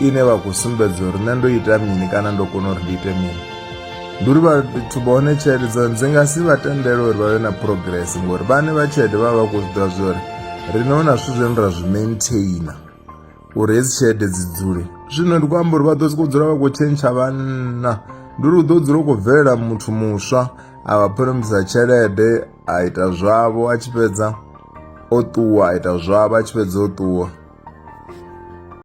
ine vakusumbedza uri nendoita mini kana ndokona uri ndiite mini nduri vati vaone chete dza dzingasi vatendere uri vave na progress ngori vane vachete vava kuzvida zvori rinoona svi zveni ra zvi maintaina uri hedzi chete dzidzule zvino ndi kuamba uri vadosi kudzula va kuchencha vana nduri kudodzula kubvelela muthu muswa avaphoromisa tshelede a ita zwavo a tshipedza o ṱuwa a ita zwavo a tshipedza o ṱuwa